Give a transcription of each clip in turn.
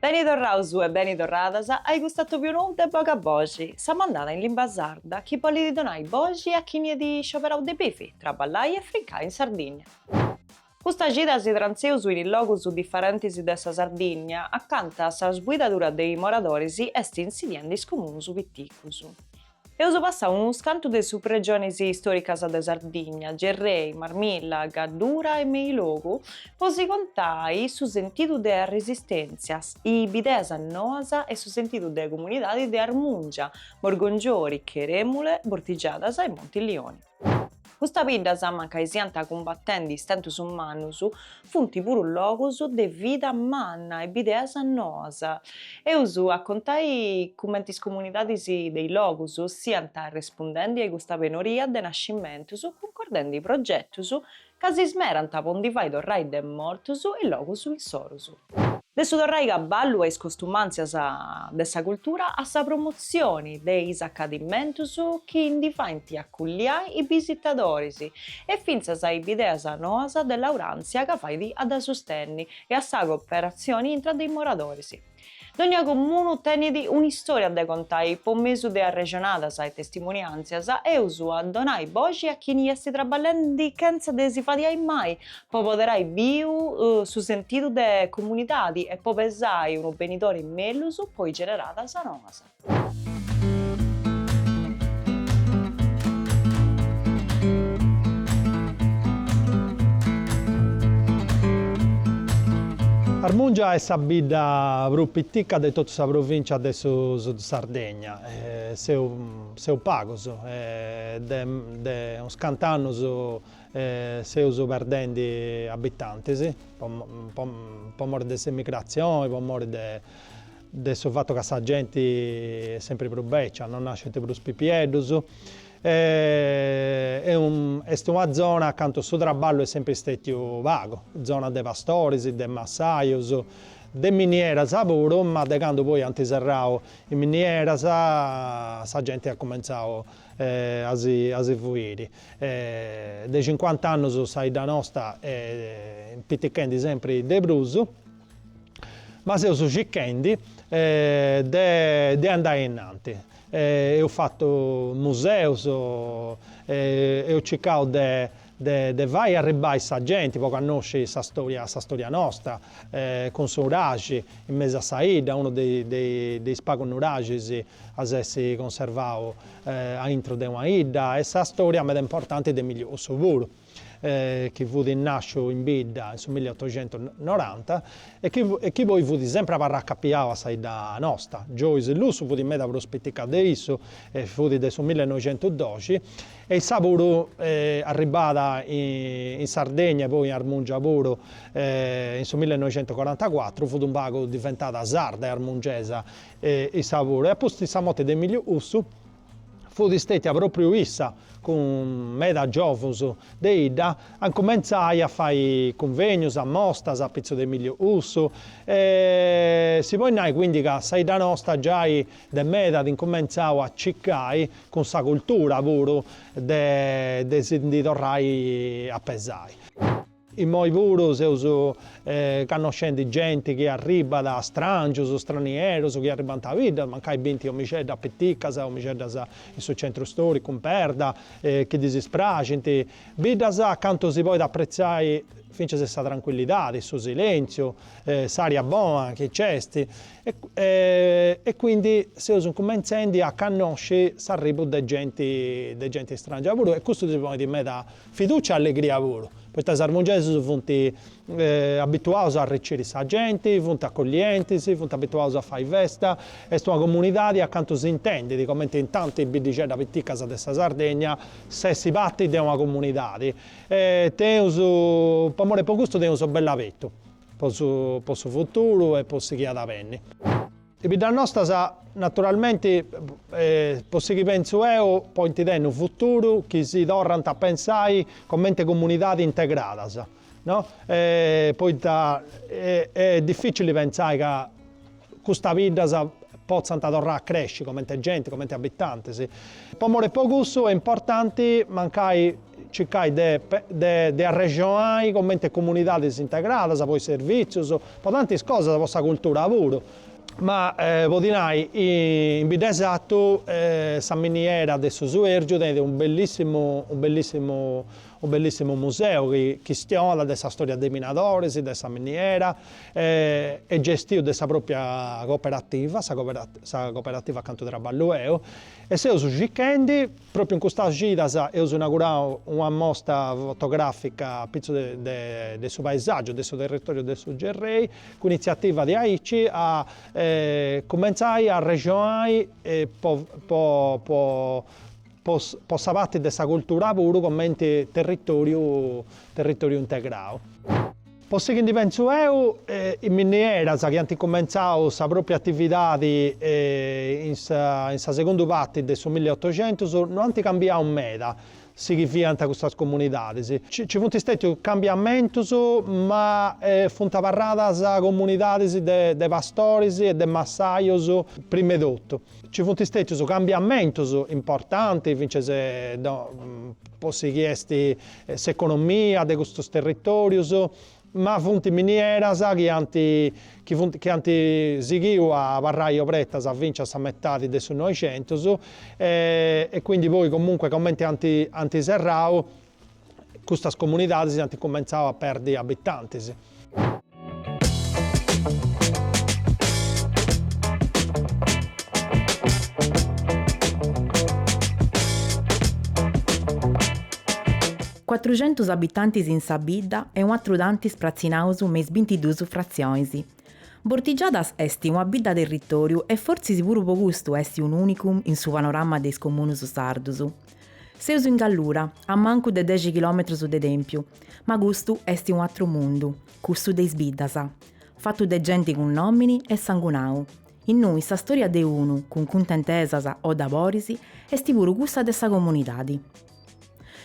Beni torraus e beni torradas a custu atòbiu nou de Bogai Boxi, sa mandada in limba sarda chi bollit donai boxi a chini at scioberau de bivi, traballai e frincai in Sardinnia. Custa cida si trantzeus in logus diferentis de sa Sardinnia acanta sa sbuidadura de is moradoris est insidiendi is comunus piticus. Eus passau unus cantu de subregionis istoricas de Sardigna, Gerrei, Marmilla, Gaddura e Meilogu, po si contai su sentidu de arresistèntzia, is bideas noas e su sentidu de comunidadi de Armungia, Morgongiori, Cheremule, Bortigiadas e Montilioni. Custas biddas, mancai siant cumbatendi istentus mannus, funt puru logus de vida manna e bideas noas. Eus a contai cumenti is comunidadis de is logus siant arrespundendi a custa penoria de nascimentus, cuncordendi progetus Ca si smerant po ndi fai torrai de mortus is logus insoru. De su torrai caballu a is costumàntzias de sa cultura a sa promotzioni de is acadimentus chi ndi faint acolliai is bisitadoris e fintzas a is bideas noas de lauràntzia ca fait a dda sustenni e a sa cooperatzioni intra de is moradoris. Dònnia comunu tenit un'istòria de contai po mesu de arrexonadas e testimuniàntzias, eus a donai boxi a chini est traballendi chentza de si fadiai mai po apoderai biu su sentidu de comunidadi e po pesai unu benidori mellus po is generadas noas. Armùngia est sa bidda prus pitica de totu sa provìncia de su Sud Sardegna. Seus pagus e de unus cant'annus seus perdendi abitantis po po mori de s'emigratzioni, po mori de de su fatu ca sa genti est sempri prus bècia, non nascint prus pipieddus e est una zona acanta su traballu est sempri stètiu pagu, zona de pastoris, de massajus, de minieras puru, ma de candu poi ant serrau is minieras sa genti at cumentzau a si a si fuiri. De cincuant'annus sa 'idda nosta est pitichendi sempri de prus. Ma seus circhendi de andai a innanti. Eus fatu museus, eus circau de fai arribbai sa genti po cannosci sa storia nosta, cun su nuraxi in mesu a sa 'idda, unu de is pagus nuraxis a s'essi conservau aintru de una 'idda e sa storia meda importanti de Emìliu Lussu puru. chi fut nàsciu in bidda in su milli otoxentus noranta e chi poi fut sempri abarracapiau a sa 'idda nosta. Joyce Lussu fut meda prus pitica de issu e fut de su millenoixentudoxi e issa puru arribada in Sardegna e poi in Armungia puru in su millenoixentucorantacuatru, fut un pagu diventada sarda e armungesa issa puru e apustis sa morti de Emiliu Lussu fut stètia pròpriu issa, cun meda giòvunus de 'idda, a cumentzai a fai cunvènios, amostas, a pitzus de Emiliu Lussu, e si podit nai quindi ca sa 'idda nosta giai de meda at incumentzau a cicai cun sa cultura puru de si ndi torrai a pesai. Immoi puru seus cannoscendi genti chi arribbat, strangius, stranierus, chi arribbant a bidda, mancai bint domixeddas piticas, domixeddas in su centru storicu, in perda, chi ddis praxint, biddas acantu si podit appretzai fincias sa trancuillidadi, su silentziu, s'aria bona chi nc'est, e quindi seus cumentzendi a cannosci s'arribu de genti, de genti strangia puru e custu si ponit meda Fidùcia e allegria puru, poita is armungesus funt abituaus a arreciri sa genti, funt acollientis, funt abituaus a fai festa, est una comunidadi acantu s'intendit, comenti in tantis biddixeddas piticas de sa Sardegna, s'essi parti de una comunidadi. E teneus, po more po custu teneus bell'abetu po su futuru e po su chi at a benni. Is biddas nostas, naturalmenti, po sighi pentzu eo, point tenni unu futuru, chi si torrant a pensai comente comunidadis integradas, no, poita est dificili pentzai ca custas biddas potzant torrai a cresci comente genti, comente abitantis. Po more po cussu est importanti mancai circai de arrexonai comente comunidadis integradas po is servìtzius, po tantis cosas, po sa cultura puru. Mo' podi nai, in Bidd'e Sartu, sa miniera de su Suèrgiu tenit unu bellissimu museu chi chistionat de sa storia de is minadoris, de sa miniera, est gestiu de sa pròpria cooperativa, sa cooperativa acantu traballu eo, e seus circhendi, Pròpiu in custas cidas eus inaugurau una mosta fotogràfica apitzus de su paesàgiu de su territòriu de su Gerrei, cun initziativa de aici a cumentzai a arrexonai po sa parti de sa cultura puru cumenti territòriu integrau. Po su chi ndi pentzu eu, is minieras chi ant cumentzau sa pròpia atividadi in sa in sa segundu parti de su milliotocentus no ant cambiau meda su chi fiant custas comunidadis. Nci funt stètius cambiamentus ma funt abarradas comunidadis de de pastoris e de massajus prima 'e totu. Nci funt stètius cambiamentus importantis fintzas po su chi est s'economia de custos territorius, ma funt minieras chi ant chi funt chi ant sighiu a abarrai obertas fintzas a sa metadi de su Noixentus e e quindi poi comunque comente ant ant serrau custas comunidadis ant cumentzau a perdi abitantis. Cuatruxentus abitantis in sa bidda e atrus tantis pratzinaus me is bintiduus fratzionis. Bortigiadas est una bidda territoriu e fortzis puru po custu est unu unicum in su panorama de is comunus sardus. Seus in Gallura, a mancu de dexi chilòmetrus de Tèmpiu, ma custu est un'atru mundu, cussu de is biddas, fatu de genti cun nòmini e sangunau, innui sa stòria de unu, cun cuntentesas o doloris, est puru cussa de sa comunidadi.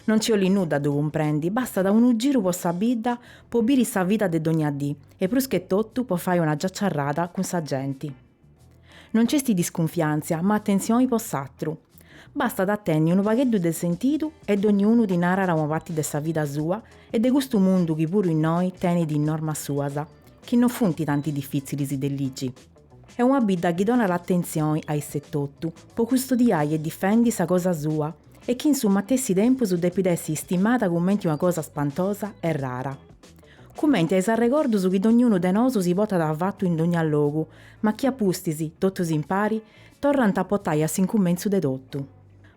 Non nci 'olit nudda a ddu cumprendi, bastat unu giru po sa bidda po biri sa vida de dogna dì e prus che totu po fai una giaciarrada cun sa genti. No nc'est discunfiàntzia, ma atentzioni po s'atru. Bastat a tenni unu pagheddu de sentidu e dogni unu ti narat una parti de sa vida sua e de custu mundu chi puru innoi tenit is normas suas, chi no funt tanti difìtzilis de ligi. Est una bidda chi donat atentzioni a isse totu po custodiai e difendi sa cosa sua e chi in su matessi tempus depit essi istimada cumenti una cosa spantosa e rara. cumenti a is arregordus chi dognunu de nosu si potat a fatu in dogna logu, ma chi a pustis, totus impari, torrant a potai a s'incumentzu de totu.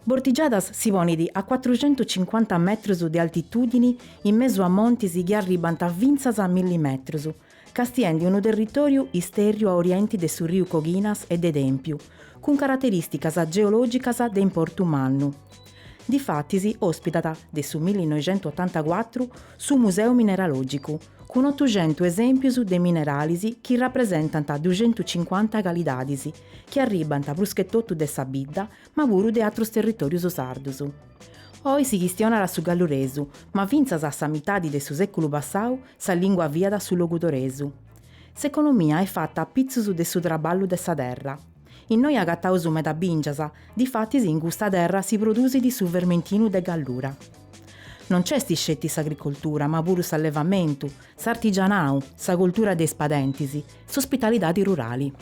Bortigiadas si ponit a cuatruxentucincuanta metrus de altitudini in mesu a montis chi arribant fintzas a milli metrus, castiendi unu territoriu istèrriu a orienti de su riu Coghinas e de Tèmpiu, cun carateristicas geologicas de importu mannu. Difatis òspitat, de su millinoixentuotantacuatru, su Museu Mineralògicu, cun otuxentus esèmpius de mineralis chi rapresentant duxentucincuanta calidadis, chi arribant pruschetotu de sa bidda, ma puru de atrus territòrius sardus. Oi si chistionat su galluresu, ma fintzas a sa mitadi de su sèculu passau sa lìngua fiat su logudoresu. S'economia est fata a pitzus de su traballu de sa terra. Innoi agataus meda bìngias, difatis in custa terra si produsit su fermentinu de Gallura. No nc'est sceti s'agricoltura ma puru s'allevamentu, s'artigianau, sa coltura de is padentis, s'ospitalidadi rurali.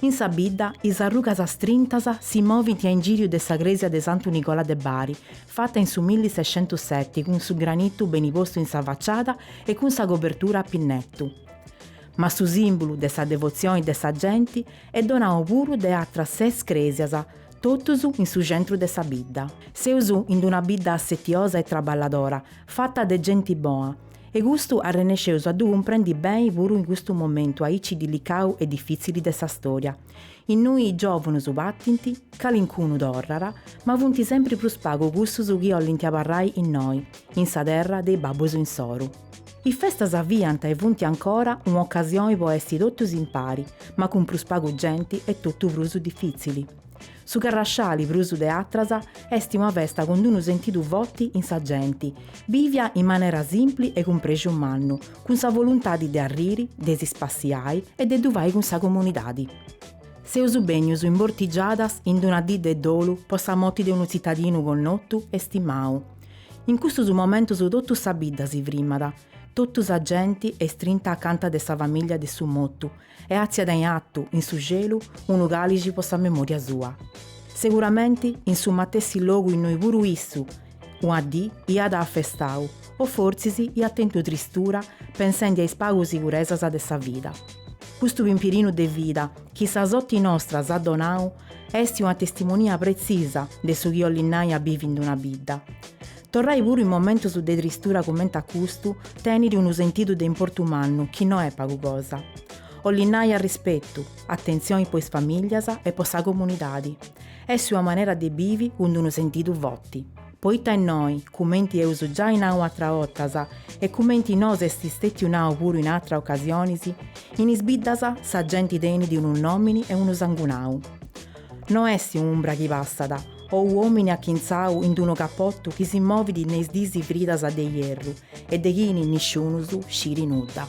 In sa bidda is arrugas strintas si movint a ingìriu de sa crèsia de Santu Nicola de Bari, fata in su millisexentuseti cun su granitu beni postu in sa faciada e cun sa cobertura a pinnetu. ma su sìmbulu de sa devotzione de sa genti est donau puru de atras ses crèsias, totus in su centru de sa bidda. Seus in una bidda assetiosa e traballadora, fata de genti bona, e custu arrennesceus a ddu cumprendi beni puru in custu momentu aici dilicau e difìtzili de sa stòria. Innui is giòvunus patint, calincunu torrat, ma funt sempri prus pagu cussus chi 'ollint abarrai innoi, in sa terra de is babbus insoru. Is festas fiant e funt ancora un'ocasioni po essi totus impari, ma cun prus pagu genti est totu prus difìtzili. Su Carrasciali, prus de atras, est una festa cun unu sentidu foti in sa genti, bivia in manera simpli e cun prexu mannu, cun sa voluntadi de arriri, de si spassiai e de ddu fai cun sa comunidadi. Seus bènnius in Bortigiadas in una dì de dolu po sa moti de unu tzitadinu connotu e stimau, In custus momentus totu sa bidda si frimat, totu sa genti est strinta acanta de sa famiglia de su motu e atziat in atu, in su celu, unu calixi po sa memoria sua. Seguramenti in su matessi logu innui puru issu una dì iat a festau o fortzis iat tentu tristura pensendi a is pagu siguresas de sa vida. Custu pimpirinu de vida chi sa soti nosta s'at donau Esti una testimonia pretziosa de su chi 'ollit nai a bivi in d-una bidda. Torrai puru in momentus de tristura cumenti a custu tenit unu sentidu de importu mannu chi no est pagu cosa. 'ollit nai arrispetu, atentzioni po is famìllias e po sa comunidadi. Esti una manera de bivi cun d-unu sentidu foti. Poita innoi, cumenti eus giai nau atra 'otas e cumenti nos est stètiu nau puru in atra ocasionis, in is biddas sa genti tenit unu nòmini e unu sangunau. No est un'umbra chi passat, o un'òmini achintzau in d-unu capotu chi si movit ne is disi fridas de ierru e de chini nisciunus sciri nudda.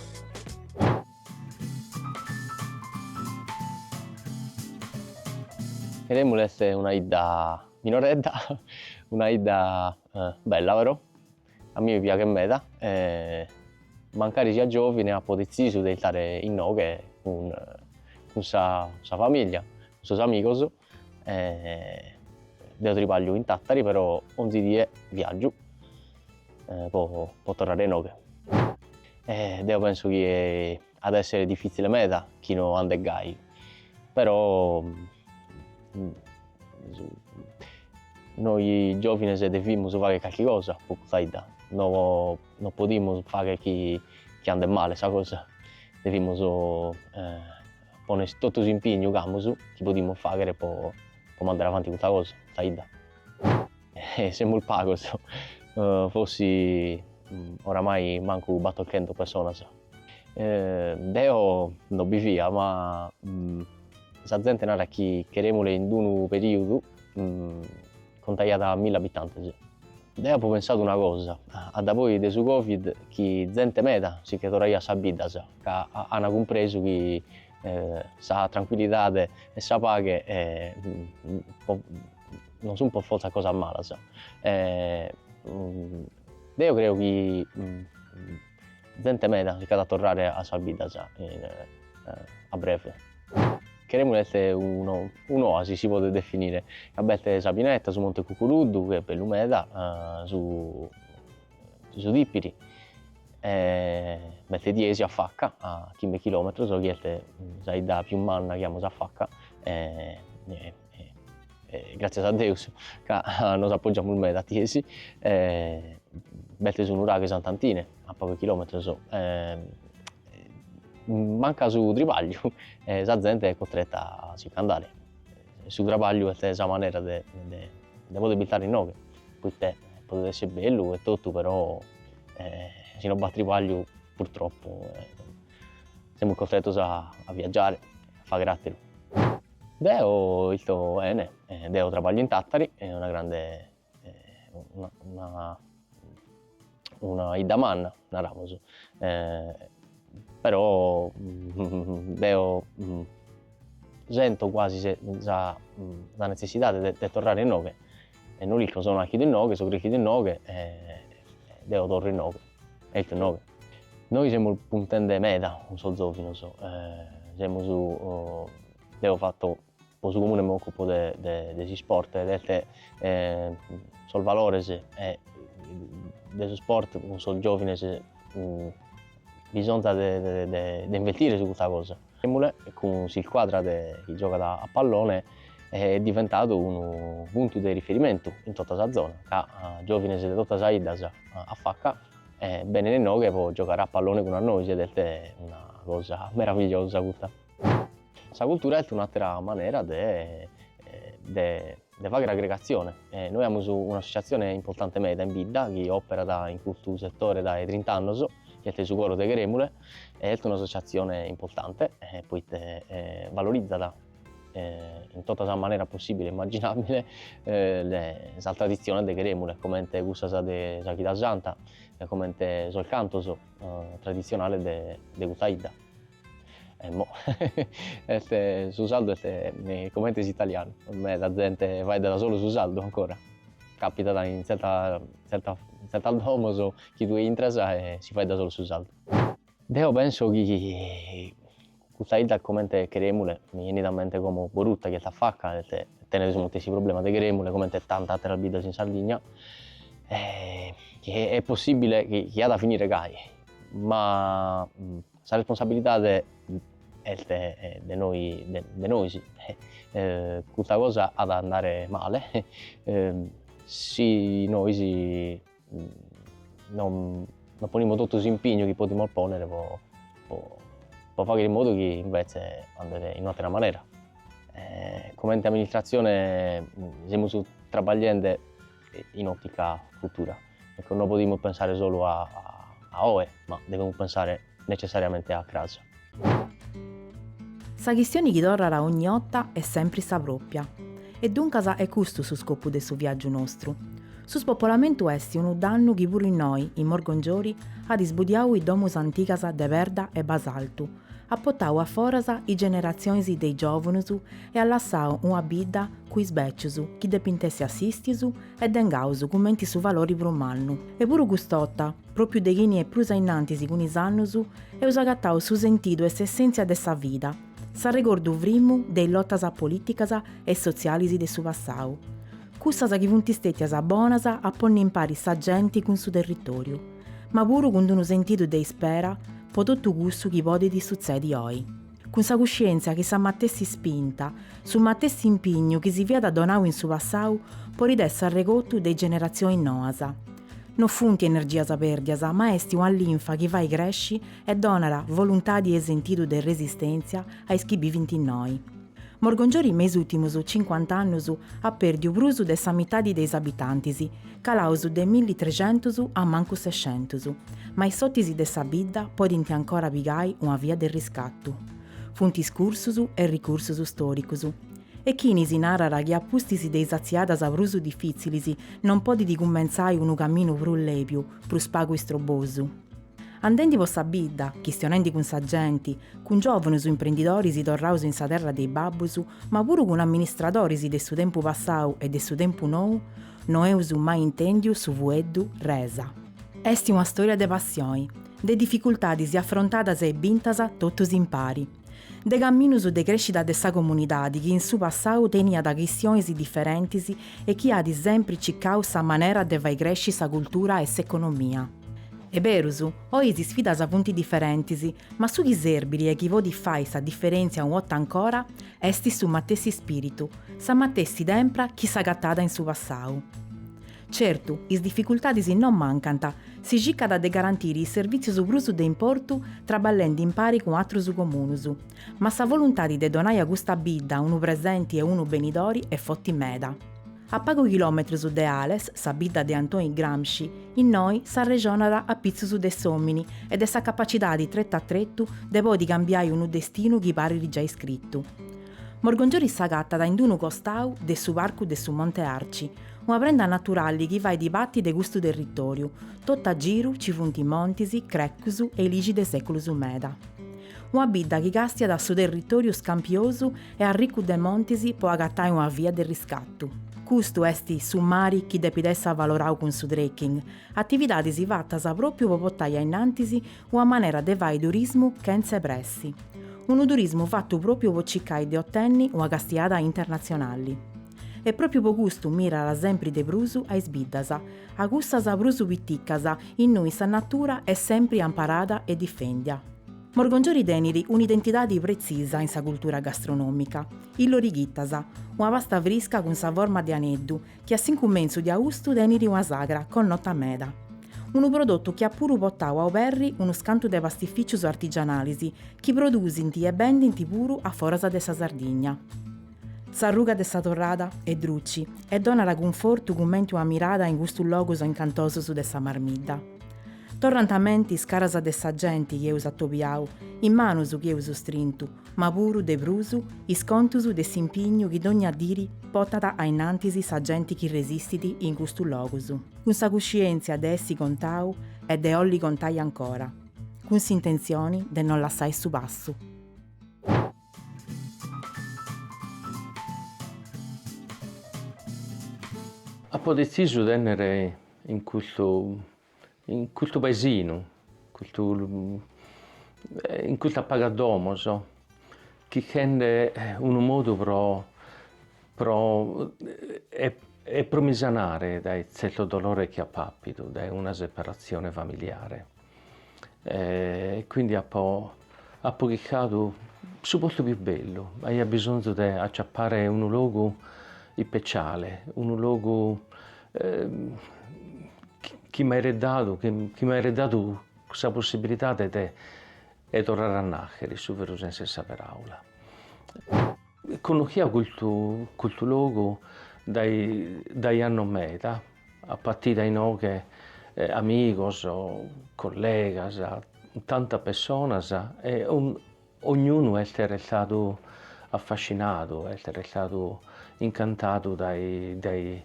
Cherèmuli est una 'idda Minoredda, una 'idda bella però, a mie mi piaghet meda, mancari siat giòvine apo detzisu de irtare inoghe cun sa famìllia, cun sos amigos, deo tribagliu in Tàtari però 'onzi die viàgiu po torrare inoghe e deo penso chi At a èssere difìtzile meda chi no andet gai, però noi giòvines devimus fagher carchi cosa pro custa 'idda, no no podimus fagher chi chi andet male sa cosa, devimus poner totu s'impignu ch'amus, chi podimus fagher pro pro mandare avanti custa cosa, custa 'idda. Semus pagos, forsi oramai mancu batorchentas personas. Deo no bi fia ma sa zente narat chi Cheremule in d'unu perìudu contaiat milli abitantes. Deo apo pensadu una cosa, a dae-poi de su Covid chi zente meda si che torraiat a sas biddas ca ant cumpresu chi sa trancuillidade e sa paghe non sunt pro fortza cosas malas. Deo creo chi Zente meda si ch'at a torrare a sas biddas a breve. Cheremule est un'oasi si podet definire, ca b'est sa pineta, su monte Cucuruddu chi est bellu meda, su su Tipiri e b'est Tiesi afaca a chimbe chilometros chi est sa 'idda pius manna chi amus afaca e e gràtzias a Deus ca nos apògiamus meda a Tiesi, b'est su nuraghe Sant'Antine a pagos chilòmetros, mancat su tribagliu e sa zente est costreta a si ch'andare, su trabagliu est sa manera de de pòdere istare inoghe, poi podet esser bellu e totu però si non b'at tribagliu purtroppo semus costretos a viaggiare, a fagher àteru. Deo isto 'ene, deo trabaglio in Tàtari, est una grande, una 'idda manna, naramus, però deo sento cuasi sa sa netzessidade de de torrare inoghe, e no l'ischio, so nàchidu inoghe, so creschidu inoghe e deo torro inoghe. Est inoghe. Nois semus puntende meda cun sos zòvinos, semus, deo fatto pro su comune m'occupo de de s'isport ed est sos valores de su sport cun sos giòvines bisonzat de investire su custa cosa. Emule, cun s'iscuadra de chi giogat a pallone, est diventadu unu puntu de riferimentu in tota sa zona, ca giòvines de totu sas 'iddas afaca benint inoghe po giogare a pallone cun a nois ed est una cosa meravigliosa custa. Sa cultura est un'àtera manera de de fagher agregatzione e nois amus un'associatzione importante meda in bidda chi operat in custu setore dae trint'annos chi est su coro de Cheremule e est un'associatzione importante poite valorizat in totta sas maneras possibile e immagginabile sas traditziones de Cheremule comente cussas de sa chida santa comente sos cantos traditzionales de custa 'idda. Emmo est su sardu est comente s'italianu, meda zente faeddat solu su sardu ancora, capitat in zertas in zertas domos chi tue intras e si faeddat solu su sardu. Deo penso chi custa 'idda comente Cheremule mi 'enit a mente como Boruta chi est afaca e tenet su matessi problema de Cheremule comente tantas atteras biddas in Sardigna e chi est possibile chi at a finire gai Ma sa responsabilidade est de nois, custa cosa at a andare male si nois non ponimus totu s'impignu chi podimus pònnere po fàghere in modu chi imvetze andet in un'àtera manera. Comente amministratzione semus trabagliende in òtica futura, ecco, no podimus pensare solu a a oe, ma devemus pensare necessariamente a cras. Sa chistioni chi torrat ogni 'otta est sempri sa pròpia. E duncas est custu su scopu de su viàgiu nostru. Su spopolamentu est unu dannu chi puru innoi, in Morgongiori, at isbudiau is domus antigas de perda e basaltu, At potau a foras is generatzionis de is giòvunus e at lassau una bidda cun is bècius chi depint essi assistius e dengaus cumenti su valori prus mannu. E puru cust'ota, pròpriu de chini est prus ainnantis cun is annus, eus agatau su sentidu e s'essèntzia de sa vida, s'arregordu frimu de is lotas polìticas e sotzialis de su passau, cussas chi funt stètias bonas a ponni impari sa genti cun su territòriu. ma puru cun d'unu sentidu de ispera po totu cussu chi podit sutzedi oi, cun sa cuscièntzia chi sa matessi ispinta, su matessi impignu chi si fiat donau in su passau podit essi arregotu de is generatzionis noas. No funt energias pèrdias ma est una linfa chi fait cresci e donat voluntadi e sentidu de resistèntzia a is chi bivint innoi. Morgongiori me is ùrtimus cincuant'annus at pèrdiu prus de sa mitadi de is abitantis, calaus de millitrecentus a mancu sescentus, ma is sortis de sa bidda podint ancora pigai una via de riscatu. Funt is cursus e ricursus stòricus. E chini si narat chi a pustis de is atziadas prus difìtzilis non podit cumentzai unu caminu prus lèbiu, prus pagu istrobosu? Andendi po sa bidda, chistionendi cun sa genti, cun giòvunus imprendidoris torraus in sa terra de is babbus, ma puru cun amministradoris de su tempus passau e de su tempus nou, no eus mai intèndiu su fueddu resa. Est una stòria de passioni, de dificultadis afrontadas e bintas totus impari, de caminus de crèscida de sa comunidadi chi in su passau teniat chistionis diferentis e chi at sempri circau sa manera de fai crèsci sa cultura e s'economia. Est berus, oi is sfidas funt diferentis, ma su chi serbit e chi podit fai sa diferèntzia una 'otta ancora, est su matessi spìritu, sa matessi tempra chi s'agatàt in su passau. Certu, is dificultadis non mancant, si circat de garantiri is servìtzius prus de importu traballendi impari cun atrus comunus, ma sa voluntadi de donai a custa bidda unu presenti e unu benidori est foti meda. A pagu chilòmetrus de Ales, sa bidda de Antoni Gramsci, innoi s'arrexonat a pitzus de s'òmini e de sa capacidadi tretu a tretu de podi cambiai unu destinu chi parit giai scritu. Morgongioris s'agatat in d-unu costau de su Parcu de su Monte Arci, una prenda naturali chi fait pati de custu territòriu, totu a giru ci funt montis, crècus e ìlixis de sèculus meda. Una bidda chi càstiat a su territòriu scampiosu e arricu de montis po agatai una via de riscatu. Custu est su mari chi depit essi avalorau cun su trekking, atividadis fatas pròpiu po potai a innantis una manera de fai turismu chentze pressi. Unu turismu fatu pròpiu po cicai de otenni una castiada internatzionali. E pròpiu po custu mirat sempri de prus a is biddas, a cussas prus piticas, innui sa natura est sempri amparada e difèndia. Morgongiori tenit un'identidadi pretzisa in sa cultura gastronòmica, is lorighitas, una pasta frisca cun sa forma de aneddu chi a s'incummentzu de austu tenit una sagra connota meda. Unu prodotu chi at puru potau a oberri unus cantu de pastificius artigianalis chi produsint e bendint puru aforas de sa Sardigna. S'arruga de sa torrada est druci e donat cunfortu cumenti una mirada in custus logus incantosus de sa Marmidda. Torrant a menti is caras de sa genti chi eus atobiau, is manus chi eus strintu, ma puru, de prus, is contus de s'impignu chi dogna diri potat ainnantis sa genti chi resistit in custus logus, cun sa cuscientzia de essi contau e de 'olli contai ancora, cun s'intentzioni de no lassai su passu. Apo detzisu de bènnere in custu in custu paesinu, custu in custu pagas domos, chirchende unu modu pro pro e pro mi sanare dae tzertos dolores chi apo appidu de una separatzione familiare. e quindi apo apo chircadu su postu pius bellu, aia bisonzu de acciappare unu logu ispeciale, unu logu chi m'airet dadu chi m'airet dadu sa possibilidade de de torrare a naschere in su veru sensu 'e sa paraula. Connochia custu custu logu dae dae annos meda apo battidu inoghe amigos, collegas, tantas pessonas e ognunu est restadu affascinadu, est restadu incantadu de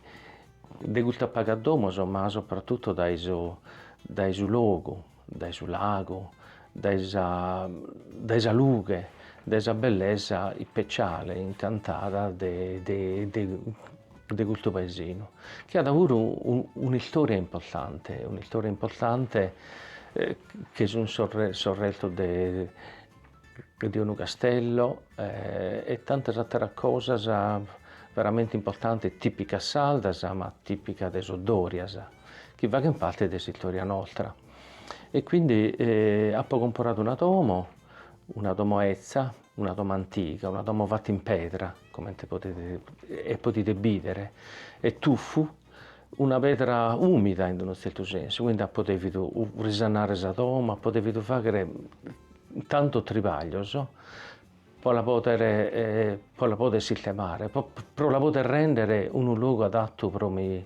custas pagas domos ma soprattutto dae su logu. dae su lagu, dae sa dae sa lughe, dae sa bellesa ispeciale, incantada de de de de custu paesinu, chi at puru un'istoria importante, un'istoria importante, chi sun sos sos restos de de unu castello e tantas àteras cosas veramente importantes, tìpicas sardas ma tìpicas de sos Dòrias, chi faghent parte de s'istòria nostra. E quindi apo comporadu una domo, una domo 'ezza, una domo antiga, una domo fata in pedra, comente podide podide bìdere, est tuffu una pedra ùmida in unu tzertu sensu, quindi apo dèvidu risanare sa domo, apo dèvidu fàghere tantos tribaglios pro la pòdere pro la pòdere sistemare, pro la pòdere rèndere unu logu adatu pro mi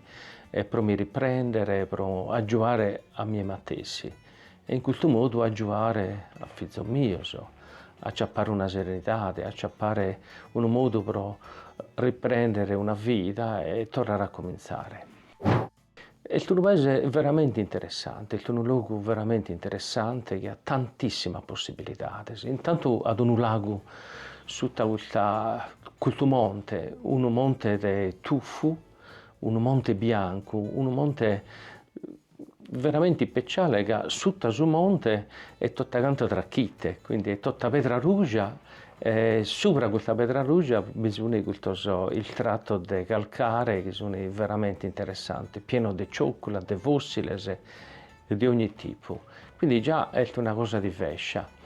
pro mi riprèndere, pro agiuare a mie matessi E in custu modu agiuare a fizos mios a acciappare una serenidade, a acciappare unu modu pro riprendere una vida e torrare a comintzare. Est unu paese veramente interessante, est unu logu veramente interessante chi at tantissimas possibilidades, intantu at unu lagu sutta custa custu monte, unu monte de tuffu, unu monte biancu, unu monte veramente ispeciale ca sutta su monte est tota cantu trachitte, quindi est tota pedra ruja e subra custa pedra ruja bi suni custos istratos de calcare chi suni veramente interessantes, pieno de ciocula, de fossiles de ogni tipu, quindi già est una cosa divescia.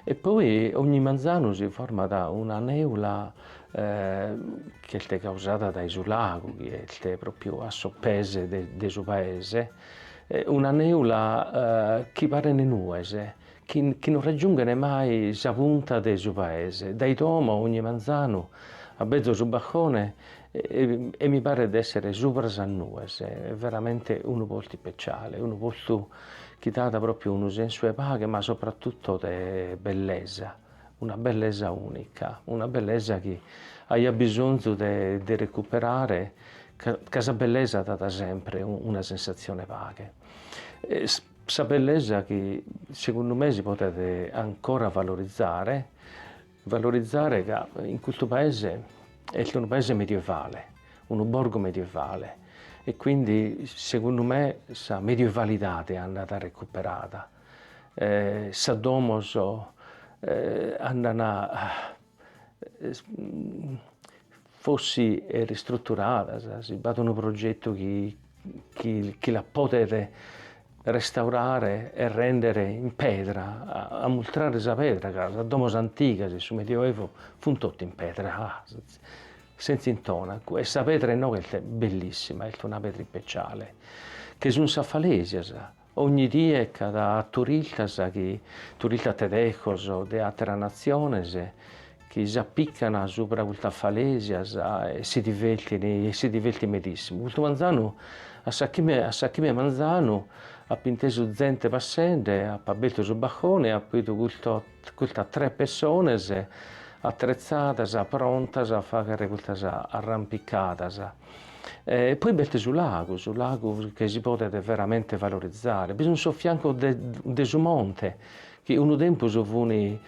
E poi ogni manzanu si format una nèula chi est causada dae su lagu chi est pròpiu a sos pes de su paese, una nèula chi parent nues, chi non raggiunghen mai sa punta de su paese, dae domo ogni manzanu abelzo su balcone e mi paret de essere subra sas nues, est veramente unu postu ispeciale, unu postu chi dat propriu unu sensu 'e paghe ma sopratutto de bellesa, una bellesa unica, una bellesa chi aia bisonzu de de recuperare ca ca sa bellesa dat sempre una sensazione 'e paghe, sa bellesa chi segundu me si podet ancora valorizare Valorizare ca in custu paese est unu paese medievale, unu borgu medievale e quindi segundu me sa medievalidade andat recuperada, sas domos andan Fossi ristruturadas, si b'at unu progetu chi la podet restaurare e render in pedra, a mustrare sa pedra, ca sas domos antigas in su Medioevo funt totu in pedra, sentza intonacu, e sa pedra inoghe est bellissima, est una pedra ispeciale, che sunt sas falesias, Ogni die ch'at turistas chi turistas tedescos o de àteras natziones chi s'apican subra custas falèsias e si divertin e si divertin medìssimu. Custu manzanu, a sas chimbe a sas chimbe 'e manzanu, ap'intesu zente passende, ap'abertu su balcone e apo bidu custos Custas tres pessones atretzadas prontas a fagher custas arrampicadas e poi b'est su lagu, su lagu chi si podet veramente valorizare, bi sun sos fiancos de su monte chi unu tempus funi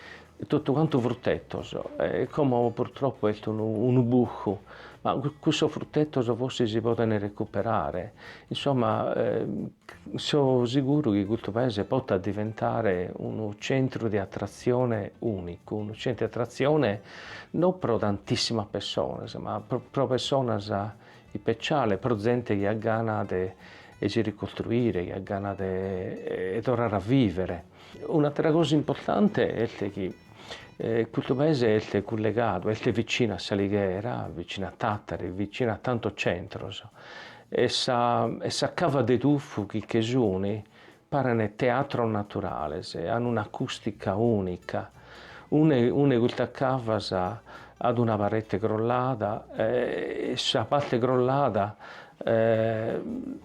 totu cantu fruttetos e como purtroppo est unu buscu Ma cussos fruttetos forsis si podent recuperare, insomma so seguru chi custu paese potat diventare unu centru de atratzione unicu, unu centru de atratzione non pro tantissimas pessonas, ma pro pessonas ispeciales, pro zente chi at gana de si ricostruire, chi at gana de torrare a vivere. Un'àtera cosa importante est chi custu paese est cullegadu, est vicinu a s'Alighera, vicinu a Tàtari, vicinu a tantos centros e sas cavas de tufu chi che suni parent teatros naturales, an un'acùstica ùnica. Una 'e custas cavas at una parete crollada e sa parte crollada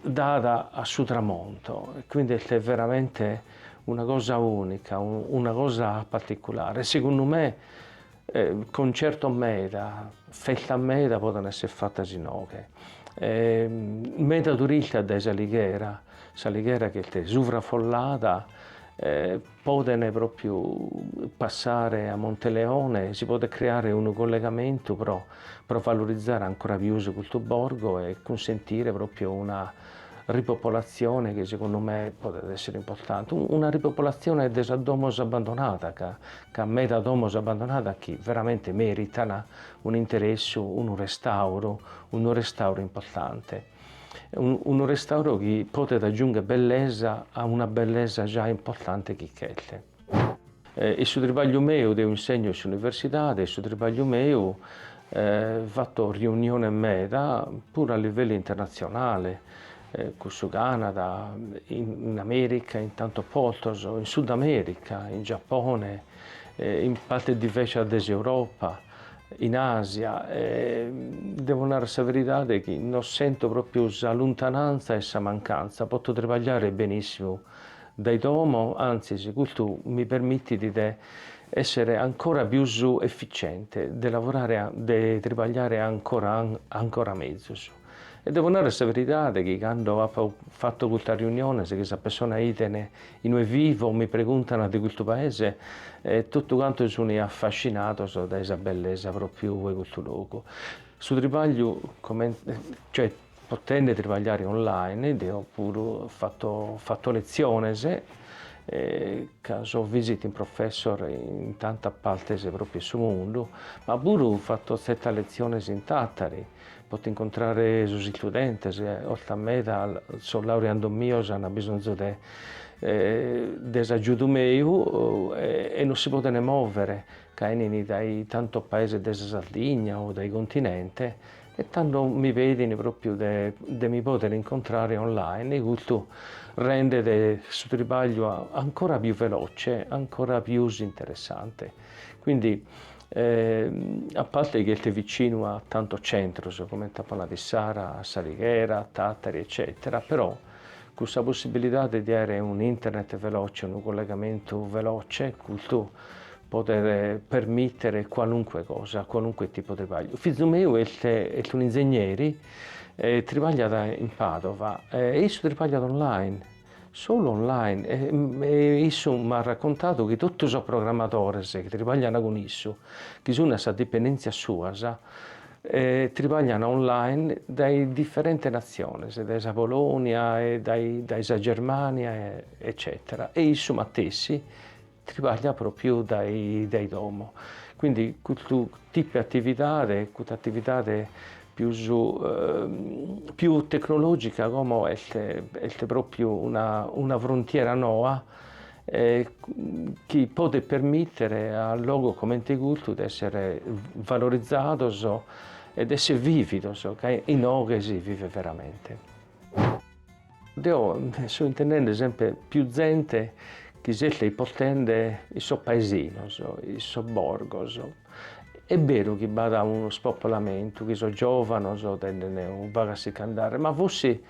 dat a su tramonto e quindi est veramente una cosa unica, una cosa particulare e segundu me concertos meda, festas meda podent esser fatas inoghe. Meda turistas dae s'Alighera, s'Alighera chi est suvraffollada Podent pròpiu passare a Monteleone, si podet creare unu collegamentu pro pro valorizare ancora pius custu borgo e cunsentire pròpiu una ripopolatzione chi segundu me podet essere importante, una ripopolatzione de sas domos abbandonadas ca ch'at meda domos abbandonadas chi veramente mèritan un'interessu, unu restauru, unu restauru importante. unu restauro chi podet agiungher bellesa a una bellesa già importante chi ch'est. In su tribagliu meu, deo insegno in s'universidade, in su tribagliu meu, fatto riuniones meda, puru a livellu internatzionale, cun su Canada, in America, in tantos postos, in Sudamerica, in Giappone, in partes diversas de s'Europa, in Asia e devo narrer sa veridade chi no sento propriu sa luntananza e sa mancanza, poto tribagliare benissimu dae domo, antzis custu mi permittit de essere ancora pius efficiente, de lavorare de tribagliare ancora ancora mezus. E devo narrer sa veridade chi cando apo fatto custas riuniones chi sas pessonas biden in ue vivo mi preguntan de custu paese e tottu cantos sun affascinados dae sa bellesa propriu de custu logu. Su tribagliu comente cioè potende tribagliare online apo puru fatto fatto leziones e ca so visiting professor in tantas partes propriu 'e su mundu ma puru fatto zertas leziones in Tattari. Poto incontrare sos istudentes, ortas meda sos laureandos mios an bisonzu de de s'agiudu meu e non si podent mòvere ca 'enint dae tantos paeses de sa Sardigna o dae continente e tando mi pedint pròpiu de de mi pòdere incontrare online e custu rendet su tribagliu ancora pius velòce, ancora pius interessante. Quindi a parte chi est vicinu a tantos centros comente apo nadu, Biddanoa, S'Alighera, a Tàtari eccètera, però cun sa possibilidade de àere un internet veloce, unu collegamentu veloce, custu podet permìtere qualunque cosa, qualunque tipu de tribagliu. Fizu meu est est un'inzegneri e tribagliat in Pàdova e issu tribagliat online Solu online e issu m'at racontadu chi totu sos programadores chi tribaglian cun issu, chi sun a sas dipendèntzias suas, tribaglian online dae diferentes natziones, dae sa Polonia e dae sa Germània eccètera e issu matessi tribagliat propriu dae domo, quindi custu tipu 'e atividade, custa atividade pius tecnologica como est propriu una frontiera noa chi podet permittere a logos comente custu de essere valorizados e de essere vividos ca inoghe si vivet veramente. Deo so intendende sempe piu zente chi s'est ispostende in sos paesinos, in sos borgos. Est beru chi b'at unu spopolamentu, chi sos giovanos tenden unu pagu a si ch'andare, ma forsi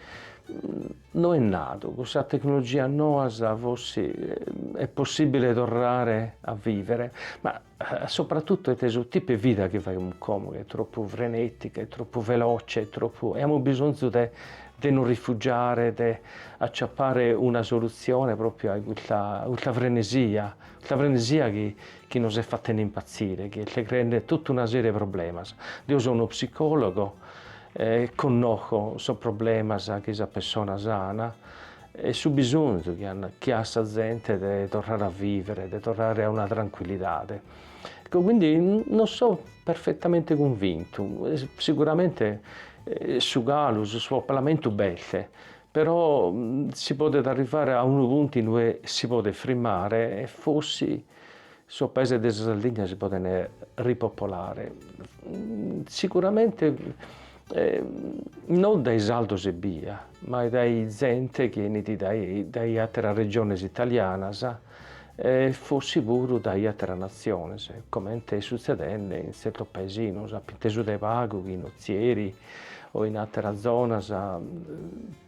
no est nadu, cun sas tecnologias noas forsi est possibile torrare a vivere, ma A sopratutu est su tipu 'e vida chi faghimus como ch'est tropu frenetica, est tropu veloce, est tropu e amus bisonzu de de nos rifugiare, de acciappare una soluzione proprio a custa frenesia, custa frenesia chi nos est fattende impazzire, chi est creende totu una serie 'e problemas. Deo so' unu psicologo e connoco sos problemas chi sas pessonas ana E su bisonzu chi at sa zente de torrare a vivere, de torrare a una trancuillidade. Ecco, quindi no so perfetamente cunvintu, siguramente su calu, su spopolamentu b'est, però si podet arrivare a unu puntu in ue si podet frimmare e forsi sos paeses de sa Sardigna si podent ripopolare, siguramente non dae sardos ebbia, ma dae zente chi 'enit dae àteras regiones italianas e forsis puru dae àteras natziones, comente est sutzedende in tzertos paesinos apo intesu dae pagu chi in Ozieri o in àteras zonas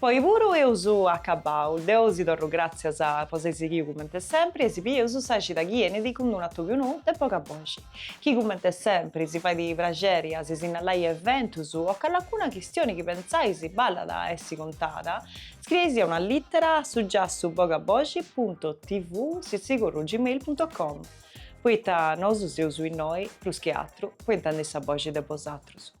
Po oi puru eus acabbau. Deu si torru gràtzias po s'ai sighiu cumenti sempri e si bieus sa xida chi enit cun unu atobiu nou de boga boxi. Aici cumenti sempri si si fait praxeri a si sinnallai eventus o callacuna chistioni chi pentzais ballat a essi contada, scrieisì una lìtera a su giassu boga boxi punto tv sitsicurru gmail punto com, poita nosu seus innoi, prus chi atru, po intendiri sa boxi de bosatrus.